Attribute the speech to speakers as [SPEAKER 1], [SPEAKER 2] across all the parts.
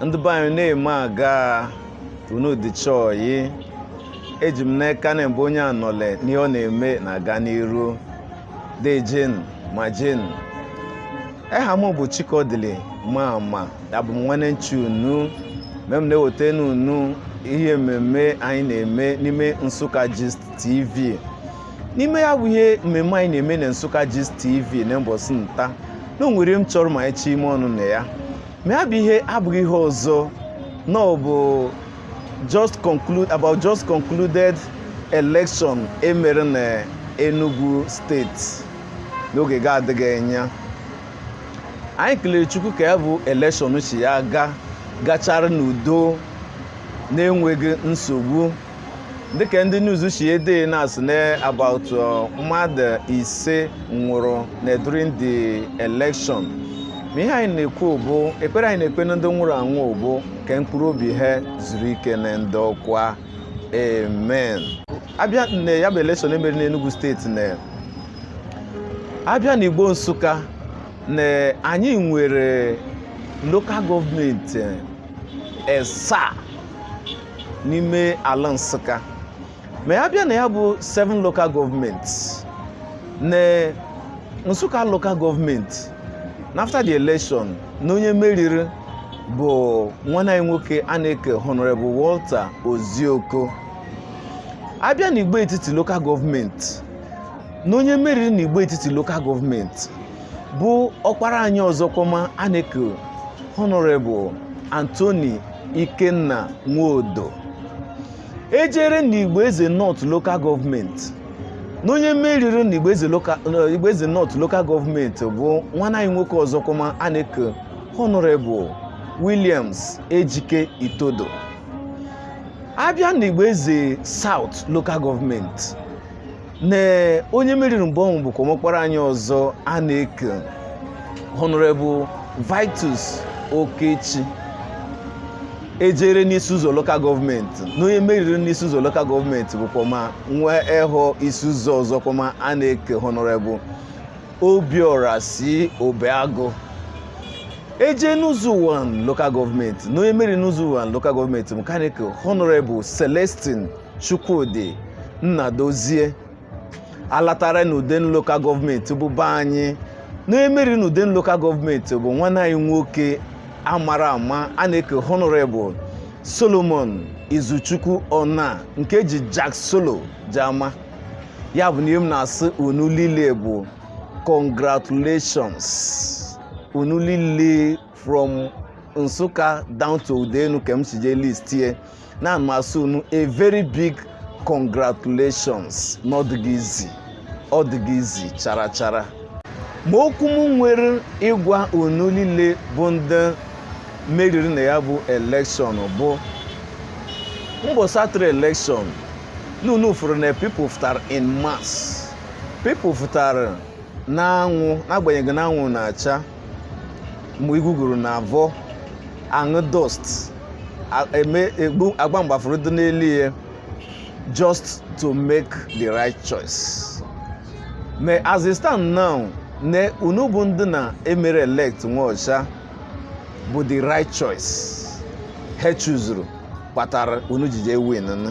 [SPEAKER 1] ndị be anyị na-eme aga unu dịcha ọyị eji m n'aka na mbụ onye anọle n'ihe ọ na-eme na-aga n'iru deejeni ma jeni eha m bụ chikodili ma ama abụ m nwanne nchi unu mgbe m na-ewoteni unu ihe mmemme anyị na-eme n'ime nsụka gist tv n'ime ya bụ ihe mmemme anyị na-eme na Nsụka Gist TV na mbọsị nta na o nwere m chọrọ ma anyị chịa ime ọnụ na ya ma ya bụ ihe abụghị ihe ọzọ na ọ bụ about just concluded election emere na Enugu steeti n'oge ga-adịghị anya anyị kelere Chukwu ka ya bụ election si ya gaa gachara n'udo na-enweghị nsogbu dịka ndị news si ede na-asị na about mmadụ ise nwụrụ na during the election ma ihe anyị na-ekwu bụ ekpere anyị na-ekpe na ndị nwụrụ anwụ bụ ka mkpụrụ obi ha zuru ike na ndokwa amen a bịa na ya bụ election e mere n'Enugu steeti na a bịa na Igbo Nsụka na anyị nwere lokal gọọmenti esaa n'ime ala Nsụka ma a bịa na ya bụ 7 local gọọmenti na Nsụka local gọọmenti na after the election na onye meriri bụ nwanne anyị nwoke a na-eke Honorable Walter Ozioko a bịa na Igbo etiti local gọọmenti na onye meriri na Igbo etiti local gọọmenti bụ ọkpara anyị ọzọkwama a na-eku Honorable Anthony Ikenna Nwodo e jere na Igbo Eze North Local Government na onye meriri na Igbo Eze North Local Government bụ nwanne anyị nwoke ọzọkwama a na-eku Honorable Williams Ejike Itodo a bịa na Igbo Eze South Local Government na onye meriri mgbe ọnwụ bụkwama ọkpara anyị ọzọ a na-eke honorable vitus okechi e jere n'isi ụzọ lokal gọọmenti na onye meriri n'isi ụzọ lokal gọọmenti bụkwama nwa ehọ isi ụzọ ọzọkwama a na-eke honorable obiora c obeagụ e jee n'ụzọ ụwanị lokal gọọmenti na onye meriri n'ụzọ ụwanị lokal gọọmenti bụ nke a na-eke honorable celestine Chukwudi Nnadozie a latara n'Udenu Local Gọọmenti bụ be anyị na onye meriri n'Udenu Local Gọọmenti bụ nwanne anyị nwoke a mara ama a na-eke Honorable Solomon Izuchukwu Onah nke e ji Jack Solo ji ama ya bụ na ihe m na-asị unu niile bụ congratulations unu niile from Nsukka down to Udenu ka m si jee list ye na m asị unu a very big congratulations na ọ dịghị easy ọ dịghị easy chara chara ma okwu m nwere ịgwa unu niile bụ ndị meriri na ya bụ election bụ mbọsị a tụrụ election n'unu fụrụ na people fụtara in mass people fụtara n'anwụ n'agbanyeghị na anwụ na-acha mgbe iguguru na avọ aṅụ dust agba mgbafuru dị n'elu ye just to make the right choice ma as it stand now na unu bụ ndị na e mere elect nwọshịa bụ the right choice ha chuzuru kpatara unu ji jee win nụ.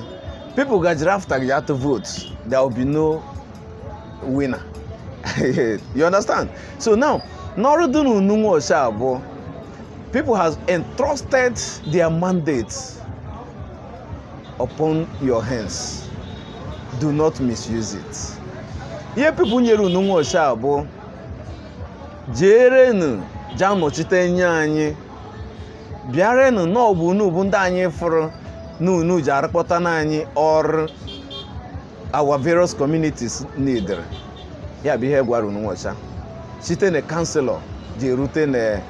[SPEAKER 1] people gajiri afụtagị atụ vote there will be no winner you understand so now n'ọrụ dị n'unu nwọshịa bụ people has entrusted their mandate upon your hands do not misuse it ihe people nyere unu nwọshịa bụ jeerenụ ja anọchite nye anyị bịarenụ na ọ bụ unu bụ ndị anyị fụrụ na unu ji arụkpọta na anyị ọrụ our various communities need ya bụ ihe gwara unu nwacha site na councillor ji erute na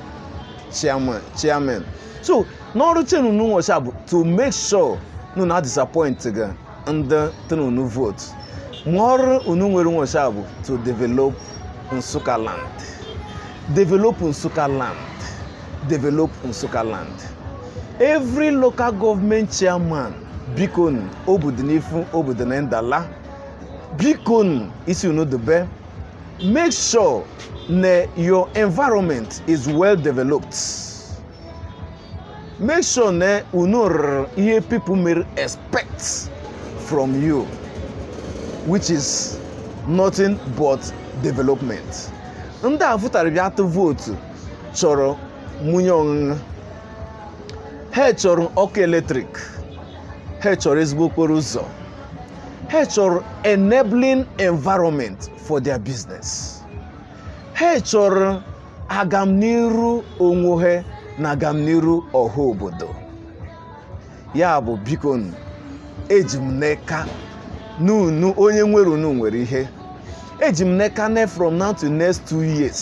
[SPEAKER 1] chairman so n'ọrụ chen unu nwacha bụ to make sure na unu adisappoint gị ndị tụrụ unu vote ma ọrụ unu nwere nwacha bụ to develop Nsukka land develop Nsukka land develop Nsukka land every local government chairman bikonu obodo n'ifu obodo na ndala bikonu isi unu dobe make sure na your environment is well developed make sure na unu rụrụ ihe people mere expect from you which is nothing but development ndị a fụtara bịa atụ vootu chọrọ munyi ọṅụṅụ ha chọrọ ọkụ eletrik ha chọrọ ezigbo okporo ụzọ ha chọrọ enabling environment for their business ha chọrọ agamniru onwe ha na agamniru ọha obodo ya bụ biko nụ, eji m n'aka n'unu onye nwere unu nwere ihe eji m n'aka ne from now to next two years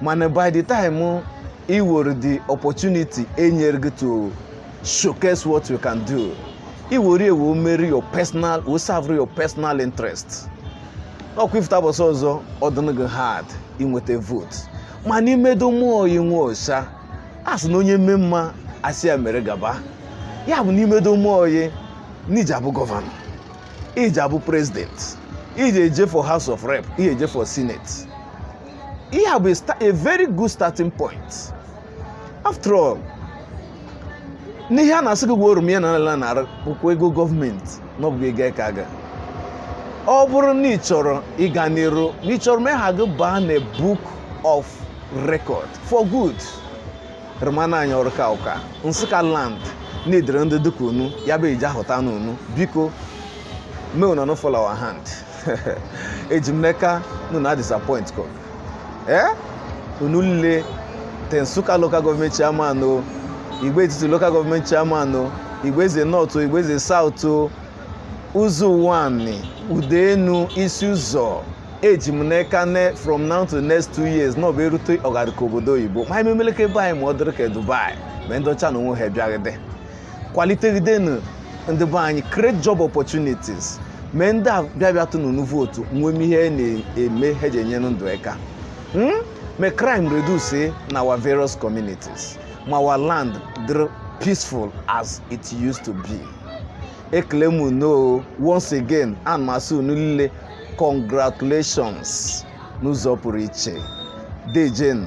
[SPEAKER 1] mana by the time i woru the opportunity e nyere gị to showcase what you can do i woru ye mere your personal wee serve your personal interest ọkwa ị fụta bọsị ọzọ ọ dụnụ gị hard inweta vote ma n'i medome ọyị inwe ọcha a sị na onye mee mma a sị ya mere gaba ya bụ n'i medome ọyị n'i ji abụ gọvanọ i ji abụ president i ji eje for house of rep i ji eje for senate ihe a bụ a very good starting point after all n'ihe a na-asị gị gwa oroma ya na nara bụkwa ego gọọmenti na ọ bụghị ego aka gị ọ bụrụ na ị chọrọ ịga n'iru na ị chọrọ ma aha gị baa na book of record for good rụmana anyị ọrụ ka ụka nsụka land na-edere ndị dịka unu ya bụ iji ahụta n'unu biko mee unu no fall our hand eji m n'aka unu na disappoint ko ee eh? unu lile te nsụka local gọọmenti chairman o igbo etiti local gọọmenti chairman o igbo eze north o igbo eze south o ụzọ ụwanị udenu isi ụzọ eji m n'aka ne from now to next two years na ọ bụ e rute ọgarịka obodo oyibo ma anyị memeleke be anyị ma ọ dịrị ka dubai ma ndị ọcha na onwe ha bịagide kwalitegidenu ndị be anyị create job opportunities mee ndị a bịa bịa tụnụ unu vootu nwee ihe na-eme ha ji enyere ndụ aka Hmm? Mee crime reduce eh, in our various communities. Ma our land dịrị peaceful as it used to be. Ekele m unu once again ana m asị unu lile congratulations n'ụzọ pụrụ iche. Dejen